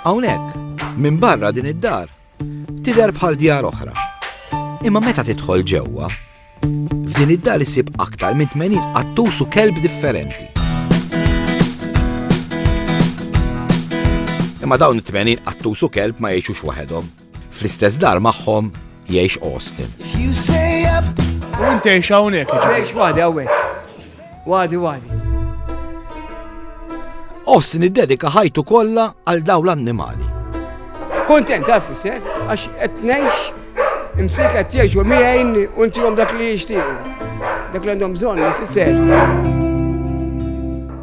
Hawnhekk, minn barra din id-dar, tidher bħal djar oħra. Imma meta tidħol ġewwa, f'din id-dar isib aktar minn 80 qattus u kelb differenti. Imma dawn it-80 qattus u kelb ma jgħixux waħedhom. Fl-istess dar magħhom jgħix Austin. U inti jgħix hawnhekk. Jgħix wadi hawnhekk. Wadi wadi. Austin iddedika ħajtu kollha għal daw l-annimali. Kontent taf isser, għax qed ngħix imsik qed jgħix u miegħin u ntihom dak li jixtiequ. Dak li għandhom bżonn ifisser.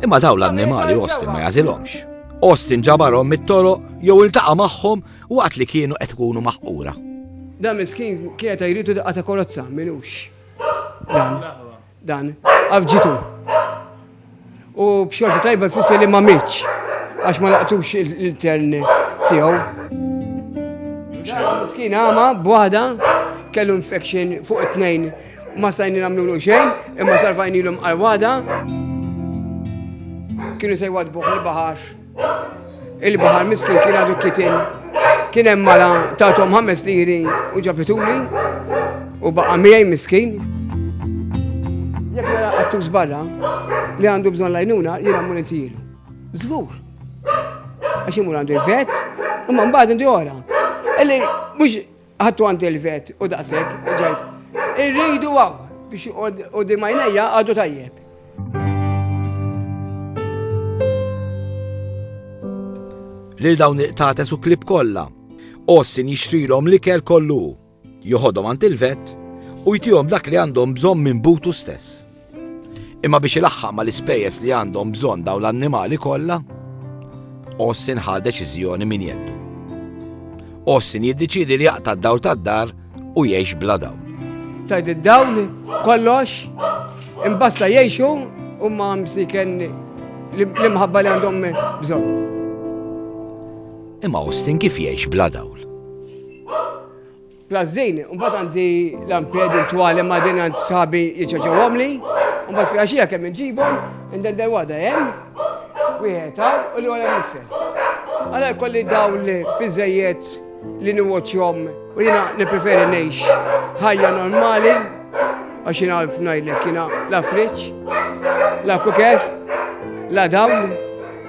Imma daw l-annimali Austin ma jażilhomx. Austin ġabarhom mit-toroq jew iltaqa' magħhom waqt li kienu qed ikunu maħqura. Dan miskin kienet qed jridu daqqa ta' kolozza, minux. Dan, dan, għafġitu. U b'xorta tajba fissi li ma mitx, għax ma laqtux il-tern tiegħu. Miskin għama, b'waħda, kellu infection fuq it-tnejn ma stajni namlu xejn, imma sarfajni l-um għal-wada. Kienu sejwad buħ il-bahar. il-baħar miskin kien għadu kitin. Kien hemm mara tatom ħames liri u ġabituli u baqa' miegħi miskin. Jekk nara qattus barra li għandu bżonn lajnuna jiena mmur intijielu. Żgur. Għax imur għandu l-vet, imma mbagħad indi ora. Illi mhux Ħadtu għand il-vet u daqshekk ġejt. Irridu hawn biex u dimajnejja għadu tajjeb. Lil dawn il-qtates u klib kollha. Ossin jixtrilhom l-ikel kollu. Joħodhom għand il-vet u jtihom dak li għandhom bżonn minn butu stess. Imma biex ilaħħaq mal-ispejjeż li għandhom bżonn dawn l-annimali kollha, Austin ħa deċiżjoni minn jeddu. Austin jiddeċidi li jaqta' d-dawl tad-dar u jgħix bla dawl. Tajt id-dawl kollox imbasta jgħixu u ma msiken l-imħabba li għandhom bżonn. Imma Austin kif jgħix bla dawl? Plus din, mbagħad għandi lamped u twali ma' din għand sħabi jiċċaċawhomli, mbagħad fil-għaxija kemm inġibhom, inden dan wada hemm, wieħed hawn u li wara nisfel. Għala jkolli dawn li biżejjed li niwotjom u jina li preferi nejx ħajja normali għax jina għalf najlek jina la friċ, la kuker, la dawn,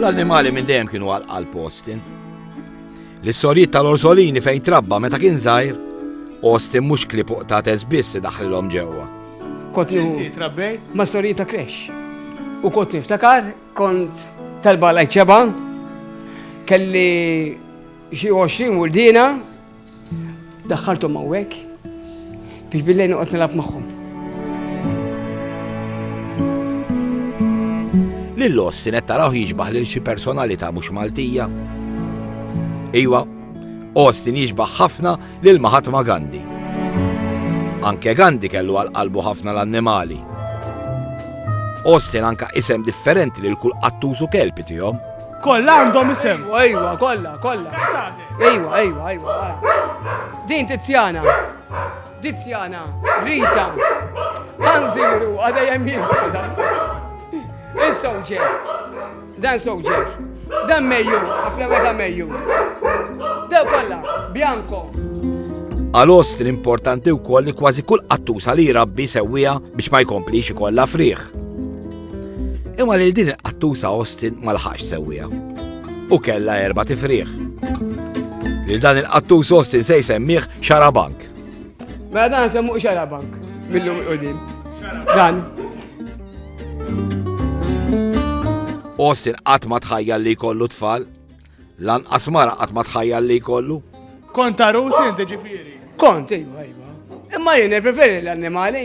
L-annimali minn dejjem kienu għal postin. L-istorijiet tal-orsolini fejn trabba meta kien żgħir, Austin mhux klipuq ta' tesbiss daħlilhom ġewwa. Kont inti trabbejt? Ma' storijiet ta' kresh. U kont niftakar, kont talba lajċeba, kelli xi 20 wurdina, Daħħalthom hawnhekk biex billejl noqgħod nilgħab magħhom. Lil Austin qed taraw jiġbaħ lil xi personalità mhux Maltija. Iwa, Austin jiġbaħ ħafna lil Mahatma Gandhi. Anke Gandhi kellu għal qalbu ħafna l-annimali. Austin anka isem differenti lil kull qattużu kelpi tihom. Kolla għandhom isem. Ejwa, ejwa, kolla, kolla. Ejwa, ejwa, ejwa. Din Tiziana. Tiziana. Rita. Hanziru, għada jemmin. Dan soldier. Dan soldier. Dan meju, għafna meta meju. Dan kolla, bianco. Għalost l-importanti u koll li kważi kull qattusa li rabbi sewwija biex ma jkomplix ikolla friħ. Imma lil din il-qattusa Austin ma laħax sewwija. U kella erba tifriħ. Lil dan il-qattus Austin se jsemmiħ xarabank. Mela dan semmuq xarabank mill-lum il-qudiem. Dan. Austin qatt ma tħajja li kollu tfal. Lan asmara qatt ma tħajja li kollu. Kont ta' rusin ġifieri. Kont, ejwa, ejwa. Imma jien preferi l-annimali.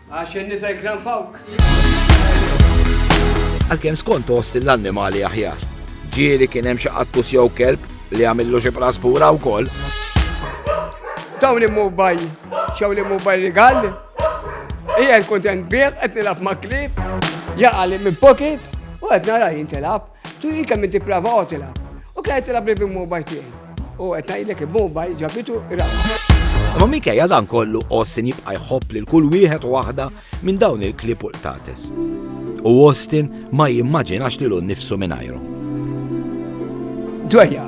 Għax in-nisa jikkranfawk. Għalkemm skont Austin l-annimali aħjar. Ġieli kien hemm xi qattus jew kelb li għamillu xi praspura wkoll. Dawn immu baj, xew li immu baj rigal. Ija kontent bih qed nilgħab ma' klib, jaqali minn pocket u qed nara jintilab. Tuhi kemm inti prava oqgħod ilgħab. U kien qed ilgħab li bil-mobile tiegħi. U qed ngħidlek il-mobile ġabitu raw. Imma minkejja dan kollu Austin jibqa' jħobb lil kull wieħed u waħda minn dawn il-klib u l-tates. U Austin ma jimmaġinax lilu nnifsu mingħajru. Dwejja.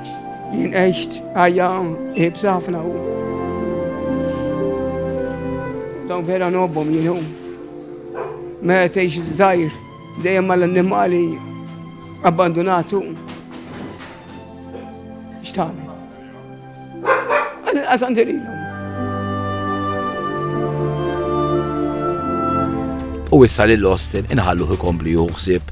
Jien għext ħajja ibsa ħafna u. Dan vera nobbom jienu. Meta tgħix żgħir dejjem mal-annimali abbandunatu. X'tagħmel? Għaż għandililhom. U issa lil Austin inħalluh ikompli juħsib